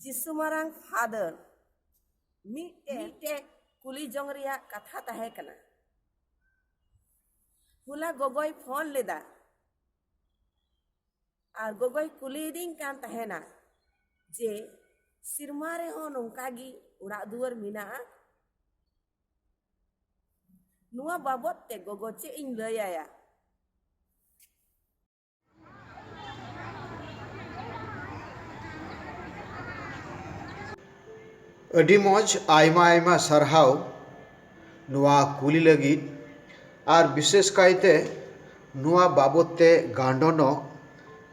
ᱡᱤᱥᱩ ᱢᱟᱨᱟᱝ ᱯᱷᱟᱫᱟᱨ ᱢᱤᱫᱴᱮᱡ ᱠᱩᱞᱤ ᱡᱚᱝ ᱨᱮᱭᱟᱜ ᱠᱟᱛᱷᱟ ᱛᱟᱦᱮᱸ ᱠᱟᱱᱟ ᱦᱚᱞᱟ ᱜᱚᱜᱚᱭ ᱯᱷᱳᱱ ᱞᱮᱫᱟ ᱟᱨ ᱜᱚᱜᱚᱭ ᱠᱩᱞᱤᱭᱮᱫᱤᱧ ᱠᱟᱱ ᱛᱟᱦᱮᱱᱟ ᱡᱮ ᱥᱮᱨᱢᱟ ᱨᱮᱦᱚᱸ ᱱᱚᱝᱠᱟ ᱜᱮ ᱚᱲᱟᱜ ᱫᱩᱣᱟᱹᱨ ᱢᱮᱱᱟᱜᱼᱟ ᱱᱚᱣᱟ ᱵᱟᱵᱚᱫ ᱛᱮ ᱜᱚᱜᱚ ᱪᱮᱫ ᱤᱧ ᱞᱟᱹᱭᱟᱭᱟ ᱟᱹᱰᱤ ᱢᱚᱡᱽ ᱟᱭᱢᱟ ᱟᱭᱢᱟ ᱥᱟᱨᱦᱟᱣ ᱱᱚᱣᱟ ᱠᱩᱞᱤ ᱞᱟᱹᱜᱤᱫ ᱟᱨ ᱵᱤᱥᱮᱥ ᱠᱟᱭᱛᱮ ᱱᱚᱣᱟ ᱵᱟᱵᱚᱛ ᱛᱮ ᱜᱟᱱᱰᱚᱱᱚᱜ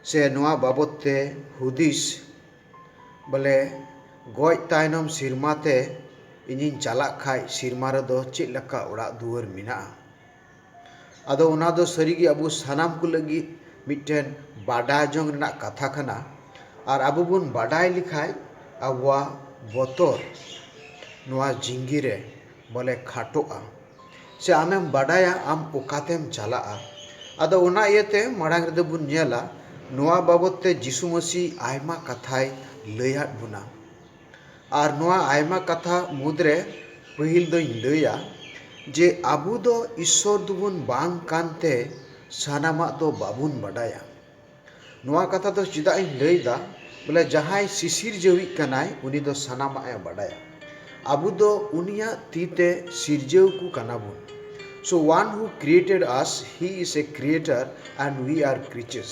ᱥᱮ ᱱᱚᱣᱟ ᱵᱟᱵᱚᱛ ᱛᱮ ᱦᱩᱫᱤᱥ ᱵᱚᱞᱮ ᱜᱚᱡ ᱛᱟᱭᱱᱚᱢ ᱥᱮᱨᱢᱟ ᱛᱮ ᱤᱧᱤᱧ ᱪᱟᱞᱟᱜ ᱠᱷᱟᱱ ᱥᱮᱨᱢᱟ ᱨᱮᱫᱚ ᱪᱮᱫ ᱞᱮᱠᱟ ᱚᱲᱟᱜ ᱫᱩᱣᱟᱹᱨ ᱢᱮᱱᱟᱜᱼᱟ ᱟᱫᱚ ᱚᱱᱟ ᱫᱚ ᱥᱟᱹᱨᱤ ᱜᱮ ᱟᱵᱚ ᱥᱟᱱᱟᱢ ᱠᱚ ᱞᱟᱹᱜᱤᱫ ᱢᱤᱫᱴᱮᱱ ᱵᱟᱰᱟᱭ ᱡᱚᱝ ᱨᱮᱱᱟᱜ ᱠᱟᱛᱷᱟ ᱠᱟᱱᱟ ᱟᱨ ᱟᱵᱚ ᱵᱚᱱ ᱵᱟᱰᱟᱭ ᱞᱮᱠᱷᱟᱱ ᱟᱵᱚᱣᱟᱜ ᱵᱚᱛᱚᱨ ᱱᱚᱶᱟ ᱡᱤᱱᱫᱮᱜᱤ ᱨᱮ ᱵᱚᱞᱮ ᱠᱷᱟᱴᱚᱜᱼᱟ ᱥᱮ ᱟᱢᱮᱢ ᱵᱟᱰᱟᱭᱟ ᱟᱢ ᱚᱠᱟᱛᱮᱢ ᱪᱟᱞᱟᱜᱼᱟ ᱟᱫᱚ ᱚᱱᱟ ᱤᱭᱟᱹᱛᱮ ᱢᱟᱲᱟᱝ ᱨᱮᱫᱚ ᱵᱚᱱ ᱧᱮᱞᱟ ᱱᱚᱶᱟ ᱵᱟᱵᱚᱛ ᱛᱮ ᱡᱤᱥᱩ ᱢᱟᱹᱥᱤ ᱟᱭᱢᱟ ᱠᱟᱛᱷᱟᱭ ᱞᱟᱹᱭᱟᱫ ᱵᱚᱱᱟ ᱟᱨ ᱱᱚᱣᱟ ᱟᱭᱢᱟ ᱠᱟᱛᱷᱟ ᱢᱩᱫᱽᱨᱮ ᱯᱟᱹᱦᱤᱞ ᱫᱚᱧ ᱞᱟᱹᱭᱟ ᱡᱮ ᱟᱵᱚ ᱫᱚ ᱤᱥᱥᱚᱨ ᱫᱚᱵᱚᱱ ᱵᱟᱝ ᱠᱟᱱᱛᱮ ᱥᱟᱱᱟᱢᱟᱜ ᱫᱚ ᱵᱟᱵᱚᱱ ᱵᱟᱰᱟᱭᱟ᱾ ᱱᱚᱣᱟ ᱠᱟᱛᱷᱟ ᱫᱚ ᱪᱮᱫᱟᱜ ᱤᱧ ᱞᱟᱹᱭ ᱮᱫᱟ ᱵᱚᱞᱮ ᱡᱟᱦᱟᱸᱭ ᱥᱤᱥᱤᱨᱡᱟᱹᱣᱤᱡ ᱠᱟᱱᱟᱭ ᱩᱱᱤ ᱫᱚ ᱥᱟᱱᱟᱢᱟᱜ ᱮ ᱵᱟᱰᱟᱭᱟ᱾ ᱟᱵᱚ ᱫᱚ ᱩᱱᱤᱭᱟᱜ ᱛᱤ ᱛᱮ ᱥᱤᱨᱡᱟᱹᱣ ᱠᱚ ᱠᱟᱱᱟ ᱵᱚᱱ᱾ ᱥᱳ one who created us he is a creator and we are creatures.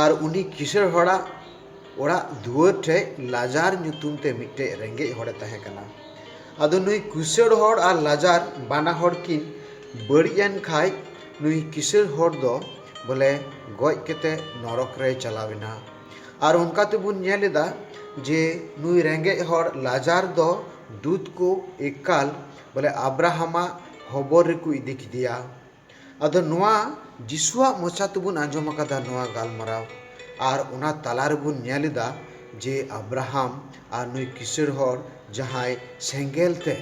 ᱟᱨ ᱩᱱᱤ ᱠᱤᱥᱟᱹᱬ ᱦᱚᱲᱟᱜ ᱚᱲᱟᱜ ᱫᱩᱣᱟᱹᱨ ᱴᱷᱮᱡ ᱞᱟᱡᱟᱨ ᱧᱩᱛᱩᱢ ᱛᱮ ᱢᱤᱫᱴᱮᱡ ᱨᱮᱸᱜᱮᱡ ᱦᱚᱲᱮ ᱛᱟᱦᱮᱸ ᱠᱟᱱᱟ᱾ ᱟᱫᱚ ᱱᱩᱭ ᱠᱤᱥᱟᱹᱬ ᱦᱚᱲ ᱟᱨ ᱞᱟᱡᱟᱨ ᱵᱟᱱᱟ ᱦᱚᱲ ᱠᱤᱱ ᱵᱟᱹᱲᱤᱡ ᱮᱱ ᱠᱷᱟᱡ ᱱᱩᱭ ᱠᱤᱥᱟᱹᱬ ᱦᱚᱲ ᱫᱚ ᱵᱚᱞᱮ ᱜᱚᱡ ᱠᱟᱛᱮ ᱱᱚᱨᱚᱠ ᱨᱮᱭ ᱪᱟᱞᱟᱣ ᱮᱱᱟ᱾ ᱟᱨ ᱚᱱᱠᱟ ᱛᱮᱵᱚᱱ ᱧᱮᱞ ᱮᱫᱟ ᱡᱮ ᱱᱩᱭ ᱨᱮᱸᱜᱮᱡ ᱦᱚᱲ ᱞᱟᱡᱟᱨ ᱫᱚ ᱫᱩᱛ ᱠᱚ ᱮᱠᱟᱞ ᱵᱚᱞᱮ ᱟᱵᱨᱟᱦᱟᱢᱟᱜ ᱦᱚᱵᱚᱨ ᱨᱮᱠᱚ ᱤᱫᱤ ᱠᱮᱫᱮᱭᱟ᱾ ᱟᱫᱚ ᱱᱚᱣᱟ ᱡᱤᱥᱩᱣᱟᱜ ᱢᱚᱪᱟ ᱛᱮᱵᱚᱱ ᱟᱸᱡᱚᱢ ᱟᱠᱟᱫᱟ ᱱᱚᱣᱟ ᱜᱟᱞᱢᱟᱨᱟᱣ ᱟᱨ ᱚᱱᱟ ᱛᱟᱞᱟ ᱨᱮᱵᱚᱱ ᱧᱮᱞ ᱮᱫᱟ ᱡᱮ ᱟᱵᱽᱨᱟᱦᱟᱢ ᱟᱨ ᱱᱩᱭ ᱠᱤᱥᱟᱹᱬ ᱦᱚᱲ ᱡᱟᱦᱟᱸᱭ ᱥᱮᱸᱜᱮᱞ ᱛᱮ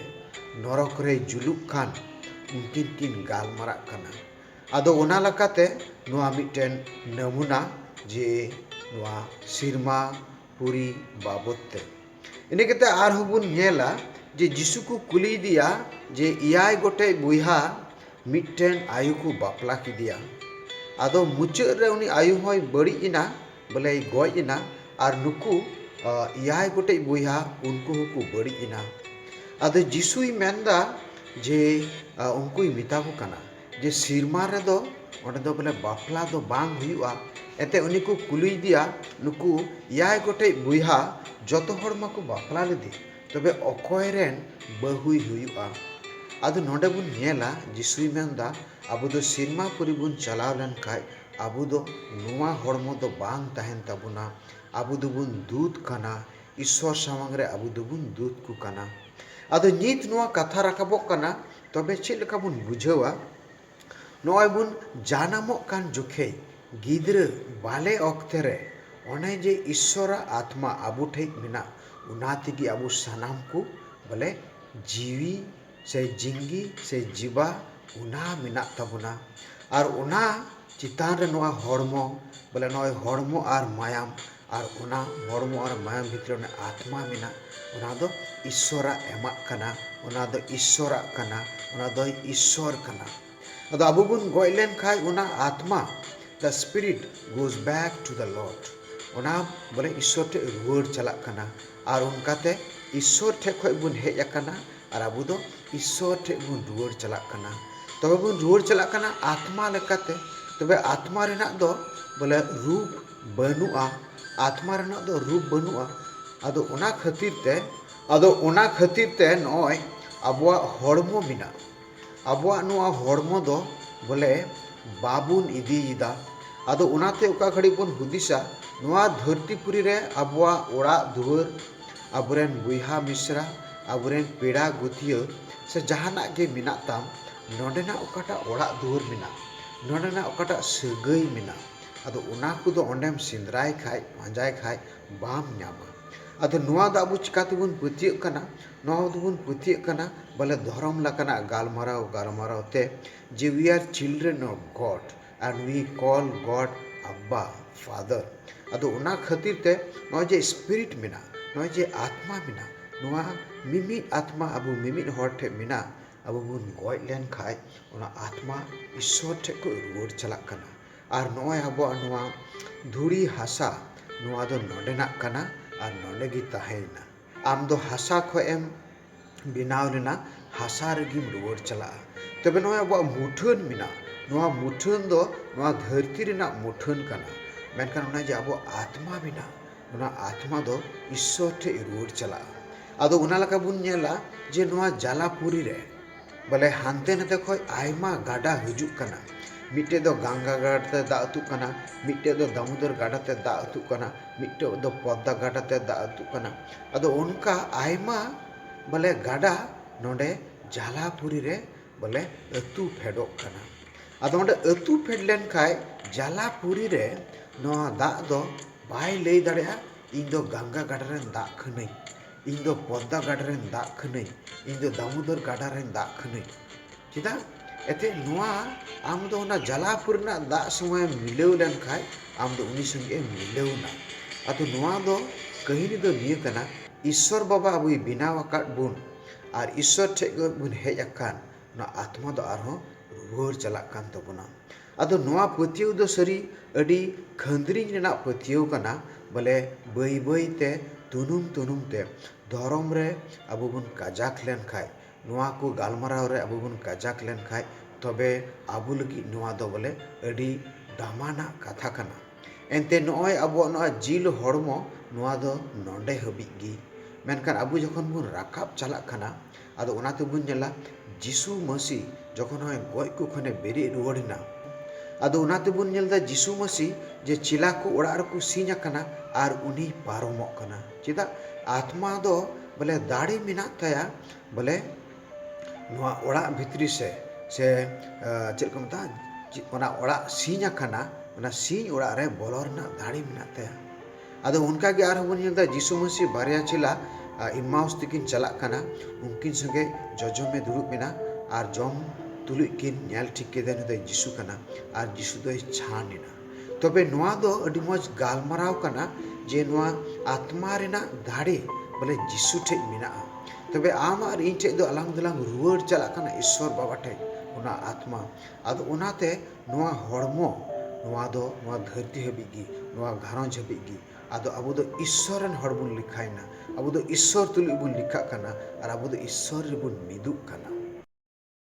ᱱᱚᱨᱚᱠ ᱨᱮᱭ ᱡᱩᱞᱩᱜ ᱠᱟᱱ ᱩᱱᱠᱤᱱ ᱠᱤᱱ ᱜᱟᱞᱢᱟᱨᱟᱜ ᱠᱟᱱᱟ᱾ ᱟᱫᱚ ᱚᱱᱟ ᱞᱮᱠᱟᱛᱮ ᱱᱚᱣᱟ ᱢᱤᱫᱴᱮᱱ ᱱᱟᱢᱩᱱᱟ ᱡᱮ ᱱᱚᱣᱟ ᱥᱤᱨᱢᱟ ᱯᱩᱨᱤ ᱵᱟᱵᱚᱛ ᱛᱮ᱾ ᱤᱱᱟᱹ ᱠᱟᱛᱮ ᱟᱨᱦᱚᱸ ᱵᱚᱱ ᱧᱮᱞᱟ ᱡᱮ ᱡᱤᱥᱩ ᱠᱚ ᱠᱩᱞᱤᱭᱮᱫᱮᱭᱟ ᱡᱮ ᱮᱭᱟᱭ ᱜᱚᱴᱮᱡ ᱵᱚᱭᱦᱟ ᱢᱤᱫᱴᱮᱱ ᱟᱭᱳ ᱠᱚ ᱵᱟᱯᱞᱟ ᱠᱮᱫᱮᱭᱟ ᱟᱫᱚ ᱢᱩᱪᱟᱹᱫ ᱨᱮ ᱩᱱᱤ ᱟᱭᱳ ᱦᱚᱸᱭ ᱵᱟᱹᱲᱤᱡ ᱮᱱᱟ ᱵᱚᱞᱮᱭ ᱜᱚᱡ ᱮᱱᱟ ᱟᱨ ᱱᱩᱠᱩ ᱮᱭᱟᱭ ᱜᱚᱴᱮᱡ ᱵᱚᱭᱦᱟ ᱩᱱᱠᱩ ᱦᱚᱸᱠᱚ ᱵᱟᱹᱲᱤᱡ ᱮᱱᱟ ᱟᱫᱚ ᱡᱤᱥᱩᱭ ᱢᱮᱱᱫᱟ ᱡᱮ ᱩᱱᱠᱩᱭ ᱢᱮᱛᱟ ᱠᱚ ᱠᱟᱱᱟ ᱡᱮ ᱥᱤᱨᱢᱟ ᱨᱮᱫᱚ ᱚᱸᱰᱮ ᱫᱚ ᱵᱚᱞᱮ ᱵᱟᱯᱞᱟ ᱫᱚ ᱵᱟᱝ ᱦᱩᱭᱩᱜᱼᱟ ᱮᱱᱛᱮ ᱩᱱᱤ ᱠᱚ ᱠᱩᱞᱤᱭᱮᱫᱮᱭᱟ ᱱᱩᱠᱩ ᱮᱭᱟᱭ ᱜᱚᱴᱮᱡ ᱵᱚᱭᱦᱟ ᱡᱚᱛᱚ ᱦᱚᱲ ᱢᱟᱠᱚ ᱵᱟᱯᱞᱟ ᱞᱮᱫᱮ ᱛᱚᱵᱮ ᱚᱠᱚᱭ ᱨᱮᱱ ᱵᱟᱹᱦᱩᱭ ᱦᱩᱭᱩᱜᱼᱟ ᱟᱫᱚ ᱱᱚᱰᱮ ᱵᱚᱱ ᱧᱮᱞᱟ ᱡᱤᱥᱩᱭ ᱢᱮᱱᱫᱟ ᱟᱵᱚ ᱫᱚ ᱥᱤᱨᱢᱟ ᱯᱩᱨᱤ ᱵᱚᱱ ᱪᱟᱞᱟᱣ ᱞᱮᱱᱠᱷᱟᱱ ᱟᱵᱚ ᱫᱚ ᱱᱚᱣᱟ ᱦᱚᱲᱢᱚ ᱫᱚ ᱵᱟᱝ ᱛᱟᱦᱮᱱ ᱛᱟᱵᱚᱱᱟ ᱟᱵᱚ ᱫᱚᱵᱚᱱ ᱫᱩᱛ ᱠᱟᱱᱟ ᱤᱥᱥᱚᱨ ᱥᱟᱢᱟᱝ ᱨᱮ ᱟᱵᱚ ᱫᱚᱵᱚᱱ ᱫᱩᱛ ᱠᱚ ᱠᱟᱱᱟ ᱟᱫᱚ ᱱᱤᱛ ᱱᱚᱣᱟ ᱠᱟᱛᱷᱟ ᱨᱟᱠᱟᱵᱚᱜ ᱠᱟᱱᱟ ᱛᱚᱵᱮ ᱪᱮᱫ ᱞᱮᱠᱟ ᱵᱚᱱ ᱵᱩᱡᱷᱟᱹᱣᱟ ᱱᱚᱜᱼᱚᱭ ᱵᱚᱱ ᱡᱟᱱᱟᱢᱚᱜ ᱠᱟᱱ ᱡᱚᱠᱷᱮᱡ ᱜᱤᱫᱽᱨᱟᱹ ᱵᱟᱞᱮ ᱚᱠᱛᱮ ᱨᱮ ᱚᱱᱮ ᱡᱮ ᱤᱥᱥᱚᱨᱟᱜ ᱟᱛᱢᱟ ᱟᱵᱚ ᱴᱷᱮᱡ ᱢᱮᱱᱟᱜ ᱚᱱᱟ ᱛᱮᱜᱮ ᱟᱵᱚ ᱥᱟᱱᱟᱢ ᱠᱚ ᱵᱚᱞᱮ ᱡᱤᱣᱤ ᱥᱮ ᱡᱤᱝᱜᱤ ᱥᱮ ᱡᱤᱵᱟ ᱚᱱᱟ ᱢᱮᱱᱟᱜ ᱛᱟᱵᱚᱱᱟ ᱟᱨ ᱚᱱᱟ ᱪᱮᱛᱟᱱ ᱨᱮ ᱱᱚᱣᱟ ᱦᱚᱲᱢᱚ ᱵᱚᱞᱮ ᱱᱚᱜᱼᱚᱭ ᱦᱚᱲᱢᱚ ᱟᱨ ᱢᱟᱭᱟᱢ ᱟᱨ ᱚᱱᱟ ᱦᱚᱲᱢᱚ ᱟᱨ ᱢᱟᱭᱟᱢ ᱵᱷᱤᱛᱨᱤ ᱨᱮ ᱟᱛᱢᱟ ᱢᱮᱱᱟᱜ ᱚᱱᱟ ᱫᱚ ᱤᱥᱥᱚᱨᱟᱜ ᱮᱢᱟᱜ ᱠᱟᱱᱟ ᱚᱱᱟ ᱫᱚ ᱤᱥᱥᱚᱨᱟᱜ ᱠᱟᱱᱟ ᱚᱱᱟ ᱫᱚ ᱤᱥᱥᱚᱨ ᱠᱟᱱᱟ ᱟᱫᱚ ᱟᱵᱚ ᱵᱚᱱ ᱜᱚᱡ ᱞᱮᱱᱠᱷᱟᱱ ᱚᱱᱟ ᱟᱛᱢᱟ the spirit goes back to the Lord ᱚᱱᱟ ᱵᱚᱞᱮ ᱤᱥᱥᱚᱨ ᱴᱷᱮᱱ ᱨᱩᱣᱟᱹᱲ ᱪᱟᱞᱟᱜ ᱠᱟᱱᱟ ᱟᱨ ᱚᱱᱠᱟᱛᱮ ᱤᱥᱥᱚᱨ ᱴᱷᱮᱱ ᱠᱷᱚᱱ ᱵᱚᱱ ᱦᱮᱡ ᱟᱠᱟᱱᱟ ᱟᱨ ᱟᱵᱚ ᱫᱚ ᱤᱥᱥᱚᱨ ᱴᱷᱮᱱ ᱵᱚᱱ ᱨᱩᱣᱟᱹᱲ ᱪᱟᱞᱟᱜ ᱠᱟᱱᱟ ᱛᱚᱵᱮ ᱵᱚᱱ ᱨᱩᱣᱟᱹᱲ ᱪᱟᱞᱟᱜ ᱠᱟᱱᱟ ᱟᱛᱢᱟ ᱞᱮᱠᱟᱛᱮ ᱛᱚᱵᱮ ᱟᱛᱢᱟ ᱨᱮᱱᱟᱜ ᱫᱚ ᱵᱚᱞᱮ ᱨᱩᱯ ᱵᱟᱹᱱᱩᱜᱼᱟ ᱟᱛᱢᱟ ᱨᱮᱱᱟᱜ ᱫᱚ ᱨᱩᱯ ᱵᱟᱹᱱᱩᱜᱼᱟ ᱟᱫᱚ ᱚᱱᱟ ᱠᱷᱟᱹᱛᱤᱨ ᱛᱮ ᱟᱫᱚ ᱚᱱᱟ ᱠᱷᱟᱹᱛᱤᱨ ᱛᱮ ᱱᱚᱜᱼᱚᱭ ᱟᱵᱚᱣᱟᱜ ᱦᱚᱲᱢᱚ ᱢᱮᱱᱟᱜᱼᱟ ᱟᱵᱚᱣᱟᱜ ᱱᱚᱣᱟ ᱦᱚᱲᱢᱚ ᱫᱚ ᱵᱚᱞᱮ ᱵᱟᱵᱚᱱ ᱤᱫᱤᱭᱮᱫᱟ ᱟᱫᱚ ᱚᱱᱟᱛᱮ ᱚᱠᱟ ᱜᱷᱟᱹᱲᱤᱡ ᱵᱚᱱ ᱦᱩᱫᱤᱥᱟ ᱱᱚᱣᱟ ᱫᱷᱟᱹᱨᱛᱤ ᱯᱩᱨᱤ ᱨᱮ ᱟᱵᱚᱣᱟᱜ ᱚᱲᱟᱜ ᱫᱩᱣᱟᱹᱨ ᱟᱵᱚᱨᱮᱱ ᱵᱚᱭᱦᱟ ᱢᱤᱥᱨᱟ ᱟᱵᱚᱨᱮᱱ ᱯᱮᱲᱟ ᱜᱩᱛᱤᱭᱟᱹ ᱥᱮ ᱡᱟᱦᱟᱱᱟᱜ ᱜᱮ ᱢᱮᱱᱟᱜ ᱛᱟᱢ ᱱᱚᱰᱮᱱᱟᱜ ᱚᱠᱟᱴᱟᱜ ᱚᱲᱟᱜ ᱫᱩᱣᱟᱹᱨ ᱢᱮᱱᱟᱜ ᱱᱚᱰᱮᱱᱟᱜ ᱚᱠᱟᱴᱟᱜ ᱥᱟᱹᱜᱟᱹᱭ ᱢᱮᱱᱟᱜ ᱟᱫᱚ ᱚᱱᱟ ᱠᱚᱫᱚ ᱚᱸᱰᱮᱢ ᱥᱮᱸᱫᱽᱨᱟᱭ ᱠᱷᱟᱡ, ᱯᱟᱸᱡᱟᱭ ᱠᱷᱟᱡ ᱵᱟᱢ ᱧᱟᱢᱟ᱾ ᱟᱫᱚ ᱱᱚᱣᱟ ᱫᱚ ᱟᱵᱚ ᱪᱮᱠᱟ ᱛᱮᱵᱚᱱ ᱯᱟᱹᱛᱭᱟᱹᱜ ᱠᱟᱱᱟ? ᱱᱚᱣᱟ ᱫᱚᱵᱚᱱ ᱯᱟᱹᱛᱭᱟᱹᱜ ᱠᱟᱱᱟ ᱵᱚᱞᱮ ᱫᱷᱚᱨᱚᱢ ᱞᱮᱠᱟᱱᱟᱜ ᱜᱟᱞᱢᱟᱨᱟᱣ ᱜᱟᱞᱢᱟᱨᱟᱣ ᱛᱮ ᱡᱮ we are children of God and we call God ᱟᱵᱵᱟ, ᱯᱷᱟᱫᱚᱨ᱾ ᱟᱫᱚ ᱚᱱᱟ ᱠᱷᱟᱹᱛᱤᱨ ᱛᱮ ᱱᱚᱜᱼᱚᱭ ᱡᱮ ᱥᱯᱤᱨᱤᱴ ᱢᱮᱱᱟᱜᱼᱟ, ᱱᱚᱜᱼᱚᱭ ᱡᱮ ᱟᱛᱢᱟ ᱢᱮᱱᱟᱜᱼᱟ, ᱱᱚᱣᱟ ᱢᱤᱢᱤᱫ ᱟᱛᱢᱟ ᱟᱵᱚ ᱢᱤᱢᱤᱫ ᱦᱚᱲ ᱴᱷᱮᱡ ᱢᱮᱱᱟᱜᱼᱟ, ᱟᱵᱚ ᱵᱚᱱ ᱜᱚᱡ ᱞᱮᱱ ᱠᱷᱟᱡ ᱚᱱᱟ ᱟᱛᱢᱟ ᱤᱥᱥᱚᱨ ᱴᱷᱮᱡ ᱠᱷᱚᱡ ᱨᱩᱣᱟᱹᱲ ᱪᱟᱞᱟᱜ ᱠᱟᱱᱟ᱾ ᱟᱨ ᱱᱚᱜᱼᱚᱭ ᱟᱵᱚᱣᱟᱜ ᱱᱚᱣᱟ ᱫᱷᱩᱲᱤ ᱦᱟᱥᱟ ᱱᱚᱣᱟ ᱫᱚ ᱱᱚᱰᱮᱱᱟᱜ ᱠᱟᱱᱟ ᱟᱨ ᱱᱚᱰᱮ ᱜᱮ ᱛᱟᱦᱮᱸᱭᱮᱱᱟ᱾ ᱟᱢ ᱫᱚ ᱦᱟᱥᱟ ᱠᱷᱚᱡ ᱮᱢ ᱵᱮᱱᱟᱣ ᱞᱮᱱᱟ, ᱦᱟᱥᱟ ᱨᱮᱜᱮᱢ ᱨᱩᱣᱟᱹᱲ ᱪᱟᱞᱟᱜᱼᱟ᱾ ᱛᱚᱵᱮ ᱱᱚᱜᱼᱚᱭ ᱟᱵᱚᱣᱟᱜ ᱢᱩᱴᱷᱟᱹᱱ ᱢᱮᱱᱟᱜᱼᱟ, ᱱᱚᱣᱟ ᱢᱩᱴᱷᱟᱹᱱ ᱫᱚ ᱱᱚᱣᱟ ᱫᱷᱟᱹᱨᱛᱤ ᱨᱮᱱᱟᱜ ᱢᱩᱴᱷᱟᱹᱱ ᱠᱟᱱᱟ᱾ ᱢᱮᱱᱠᱷᱟᱱ ᱚᱱᱮ ᱡᱮ ᱟᱵᱚᱣᱟᱜ ᱟᱛᱢᱟ ᱢᱮᱱᱟᱜᱼᱟ, ᱚᱱᱟ ᱟᱛᱢᱟ ᱫᱚ ᱤᱥᱥᱚᱨ ᱴᱷᱮᱡ ᱨᱩᱣᱟᱹᱲ ᱪᱟᱞᱟᱜᱼᱟ᱾ ᱟᱫᱚ ᱚᱱᱟ ᱞᱮᱠᱟ ᱵᱚᱱ ᱧᱮᱞᱟ ᱡᱮ ᱱᱚᱣᱟ ᱡᱟᱞᱟᱯᱩᱨᱤ ᱨᱮ ᱵᱚᱞᱮ ᱦᱟᱱᱛᱮ ᱱᱟᱛᱮ ᱠᱷᱚᱡ ᱟᱭᱢᱟ ᱜᱟᱰᱟ ᱦᱤᱡᱩᱜ ᱠᱟᱱᱟ ᱢᱤᱫᱴᱮᱡ ᱫᱚ ᱜᱟᱝᱜᱟ ᱜᱟᱰᱟ ᱛᱮ ᱫᱟᱜ ᱟᱹᱛᱩᱜ ᱠᱟᱱᱟ ᱢᱤᱫᱴᱮᱡ ᱫᱚ ᱫᱟᱢᱩᱫᱚᱨ ᱜᱟᱰᱟ ᱛᱮ ᱫᱟᱜ ᱟᱹᱛᱩᱜ ᱠᱟᱱᱟ ᱢᱤᱫᱴᱮᱡ ᱫᱚ ᱯᱚᱫᱫᱟ ᱜᱟᱰᱟ ᱛᱮ ᱫᱟᱜ ᱟᱹᱛᱩᱜ ᱠᱟᱱᱟ ᱟᱫᱚ ᱚᱱᱠᱟ ᱟᱭᱢᱟ ᱵᱚᱞᱮ ᱜᱟᱰᱟ ᱱᱚᱰᱮ ᱡᱟᱞᱟᱯᱩᱨᱤ ᱨᱮ ᱵᱚᱞᱮ ᱟᱹᱛᱩ ᱯᱷᱮᱰᱚᱜ ᱠᱟᱱᱟ ᱟᱫᱚ ᱚᱸᱰᱮ ᱟᱹᱛᱩ ᱯᱷᱮᱰ ᱞᱮᱱ ᱠᱷᱟᱡ ᱡᱟᱞᱟᱯᱩᱨᱤ ᱨᱮ ᱱᱚᱣᱟ ᱫᱟᱜ ᱫᱚ ᱵᱟᱭ ᱞᱟᱹᱭ ᱫᱟᱲᱮᱭᱟᱜᱼᱟ ᱤᱧ ᱫᱚ ᱜᱟᱝᱜᱟ ᱜᱟᱰᱟ ᱨᱮᱱ ᱫᱟᱜ ᱠᱟᱹᱱᱟᱹᱧ ᱤᱧ ᱫᱚ ᱯᱚᱫᱽᱫᱟ ᱜᱟᱰᱟ ᱨᱮᱱ ᱫᱟᱜ ᱠᱟᱹᱱᱟᱹᱧ ᱤᱧ ᱫᱚ ᱫᱟᱢᱳᱫᱚᱨ ᱜᱟᱰᱟ ᱨᱮᱱ ᱫᱟᱜ ᱠᱟᱹᱱᱟᱹᱧ ᱪᱮᱫᱟᱜ ᱮᱱᱛᱮᱫ ᱱᱚᱣᱟ ᱟᱢ ᱫᱚ ᱚᱱᱟ ᱡᱟᱞᱟᱯᱩᱨ ᱨᱮᱱᱟᱜ ᱫᱟᱜ ᱥᱚᱸᱜᱮ ᱢᱤᱞᱟᱹᱣ ᱞᱮᱱᱠᱷᱟᱱ ᱟᱢ ᱫᱚ ᱩᱱᱤ ᱥᱚᱸᱜᱮ ᱮᱢ ᱢᱤᱞᱟᱹᱣ ᱮᱱᱟ ᱟᱫᱚ ᱱᱚᱣᱟ ᱫᱚ ᱠᱟᱹᱦᱱᱤ ᱫᱚ ᱱᱤᱭᱟᱹ ᱠᱟᱱᱟ ᱤᱥᱥᱚᱨ ᱵᱟᱵᱟ ᱟᱵᱚᱭ ᱵᱮᱱᱟᱣ ᱟᱠᱟᱫ ᱵᱚᱱ ᱟᱨ ᱤᱥᱥᱚᱨ ᱴᱷᱮᱱ ᱠᱷᱚᱱ ᱵᱚᱱ ᱦᱮᱡ ᱟᱠᱟᱱ ᱱᱚᱣᱟ ᱟᱛᱢᱟ ᱫᱚ ᱟᱨᱦᱚᱸ ᱨᱩᱣᱟᱹᱲ ᱪᱟᱞᱟᱜ ᱠᱟᱱ ᱛᱟᱵᱚᱱᱟ ᱟᱫᱚ ᱱᱚᱣᱟ ᱯᱟᱹᱛᱭᱟᱹᱣ ᱫᱚ ᱥᱟᱹᱨᱤ ᱟᱹᱰᱤ ᱠᱷᱟᱹᱱᱫᱽᱨᱤᱧ ᱨᱮᱱᱟᱜ ᱯᱟᱹᱛᱭᱟᱹᱣ ᱠᱟᱱᱟ ᱵᱚᱞᱮ ᱵᱟᱹᱭ ᱵᱟᱹᱭ ᱛᱮ ᱛᱩᱱᱩᱢ ᱛᱩᱱᱩᱢ ᱛᱮ ᱫᱷᱚᱨᱚᱢ ᱨᱮ ᱟᱵᱚ ᱵᱚᱱ ᱠᱟᱡᱟᱠ ᱞᱮᱱ ᱠᱷᱟᱱ ᱱᱚᱣᱟ ᱠᱚ ᱜᱟᱞᱢᱟᱨᱟᱣ ᱨᱮ ᱟᱵᱚ ᱵᱚᱱ ᱠᱟᱡᱟᱠ ᱞᱮᱱ ᱠᱷᱟᱱ ᱛᱚᱵᱮ ᱟᱵᱚ ᱞᱟᱹᱜᱤᱫ ᱱᱚᱣᱟ ᱫᱚ ᱵᱚᱞᱮ ᱟᱹᱰᱤ ᱫᱟᱢᱟᱱᱟᱜ ᱠᱟᱛᱷᱟ ᱠᱟᱱᱟ ᱮᱱᱛᱮ ᱱᱚᱜᱼᱚᱭ ᱟᱵᱚᱣᱟᱜ ᱱᱚᱣᱟ ᱡᱤᱞ ᱦᱚᱲᱢᱚ ᱱᱚᱣᱟ ᱫᱚ ᱱᱚᱰᱮ ᱦᱟᱹᱵᱤᱡ ᱜᱮ ᱢᱮᱱᱠᱷᱟᱱ ᱟᱵᱚ ᱡᱚᱠᱷᱚᱱ ᱵᱚᱱ ᱨᱟᱠᱟᱵ ᱪᱟᱞᱟᱜ ᱠᱟᱱᱟ ᱟᱫᱚ ᱚᱱᱟ ᱛᱮᱵᱚᱱ ᱧᱮᱞᱟ ᱡᱤᱥᱩ ᱢᱟᱹᱥᱤ ᱡᱚᱠᱷᱚᱱ ᱦᱚᱸᱭ ᱜᱚᱡ ᱠᱚ ᱠᱷᱚᱱᱮ ᱵᱮᱨᱮᱫ ᱨᱩᱣᱟᱹᱲ ᱮᱱᱟ ᱟᱫᱚ ᱚᱱᱟ ᱛᱮᱵᱚᱱ ᱧᱮᱞ ᱮᱫᱟ ᱡᱤᱥᱩ ᱢᱟᱹᱥᱤ ᱡᱮ ᱪᱮᱞᱟ ᱠᱚ ᱚᱲᱟᱜ ᱨᱮᱠᱚ ᱥᱤᱧ ᱟᱠᱟᱱᱟ ᱟᱨ ᱩᱱᱤᱭ ᱯᱟᱨᱚᱢᱚᱜ ᱠᱟᱱᱟ ᱪᱮᱫᱟᱜ ᱟᱛᱢᱟ ᱫᱚ ᱵᱚᱞᱮ ᱫᱟᱲᱮ ᱢᱮᱱᱟᱜ ᱛᱟᱭᱟ ᱵᱚᱞᱮ ᱱᱚᱣᱟ ᱚᱲᱟᱜ ᱵᱷᱤᱛᱨᱤ ᱥᱮ ᱥᱮ ᱪᱮᱫ ᱠᱚ ᱢᱮᱛᱟᱜᱼᱟ ᱚᱱᱟ ᱚᱲᱟᱜ ᱥᱤᱧ ᱟᱠᱟᱱᱟ ᱚᱱᱟ ᱥᱤᱧ ᱚᱲᱟᱜ ᱨᱮ ᱵᱚᱞᱚ ᱨᱮᱱᱟᱜ ᱫᱟᱲᱮ ᱢᱮᱱᱟᱜ ᱛᱟᱭᱟ ᱟᱫᱚ ᱚᱱᱠᱟ ᱜᱮ ᱟᱨᱦᱚᱸ ᱵᱚᱱ ᱧᱮᱞ ᱮᱫᱟ ᱡᱤᱥᱩ ᱢᱟᱹᱥᱤ ᱵᱟᱨᱭᱟ ᱪᱮᱞᱟ ᱤᱢᱢᱟᱣᱩᱥ ᱛᱮᱠᱤᱱ ᱪᱟᱞᱟᱜ ᱠᱟᱱᱟ᱾ ᱩᱱᱠᱤᱱ ᱥᱚᱸᱜᱮ ᱡᱚᱡᱚᱢ ᱮ ᱫᱩᱲᱩᱵ ᱮᱱᱟ ᱟᱨ ᱡᱚᱢ ᱛᱩᱞᱩᱡ ᱠᱤᱱ ᱧᱮᱞ ᱴᱷᱤᱠ ᱠᱮᱫᱮᱭᱟ ᱱᱩᱭ ᱫᱚ ᱡᱤᱥᱩ ᱠᱟᱱᱟ ᱟᱨ ᱡᱤᱥᱩ ᱫᱚᱭ ᱪᱷᱟᱱ ᱮᱱᱟ᱾ ᱛᱚᱵᱮ ᱱᱚᱶᱟ ᱫᱚ ᱟᱹᱰᱤ ᱢᱚᱡᱽ ᱜᱟᱞᱢᱟᱨᱟᱣ ᱠᱟᱱᱟ ᱡᱮ ᱱᱚᱶᱟ ᱟᱛᱢᱟ ᱨᱮᱱᱟᱜ ᱫᱟᱲᱮ ᱵᱚᱞᱮ ᱡᱤᱥᱩ ᱴᱷᱮᱡ ᱢᱮᱱᱟᱜᱼᱟ᱾ ᱛᱚᱵᱮ ᱟᱢ ᱟᱨ ᱤᱧ ᱴᱷᱮᱡ ᱫᱚ ᱟᱞᱟᱝ ᱫᱚᱞᱟᱝ ᱨᱩᱣᱟᱹᱲ ᱪᱟᱞᱟᱜ ᱠᱟᱱᱟ ᱤᱥᱥᱚᱨ ᱵᱟᱵᱟ ᱴᱷᱮᱡ ᱚᱱᱟ ᱟᱛᱢᱟ᱾ ᱟᱫᱚ ᱚᱱᱟᱛᱮ ᱱᱚᱣᱟ ᱦᱚᱲᱢᱚ ᱱᱚᱣᱟ ᱫᱚ ᱱᱚᱣᱟ ᱫᱷᱟᱹᱨᱛᱤ ᱦᱟᱹᱵᱤᱡ ᱜᱮ, ᱱᱚᱣᱟ ᱜᱷᱟᱨᱚᱸᱡᱽ ᱦᱟᱹᱵᱤᱡ ᱜᱮ᱾ ᱟᱫᱚ ᱟᱵᱚ ᱫᱚ ᱤᱥᱥᱚᱨ ᱨᱮᱱ ᱦᱚᱲ ᱵᱚᱱ ᱞᱮᱠᱷᱟᱭᱮᱱᱟ᱾ ᱟᱵᱚ ᱫᱚ ᱤᱥᱥᱚᱨ ᱛᱩᱞᱩᱡ ᱵᱚᱱ ᱞᱮᱠᱷᱟᱜ ᱠᱟᱱᱟ ᱟᱨ ᱟᱵᱚ ᱫᱚ ᱤᱥᱥᱚᱨ ᱨᱮᱵᱚᱱ ᱢᱤᱫᱩᱜ ᱠᱟᱱᱟ᱾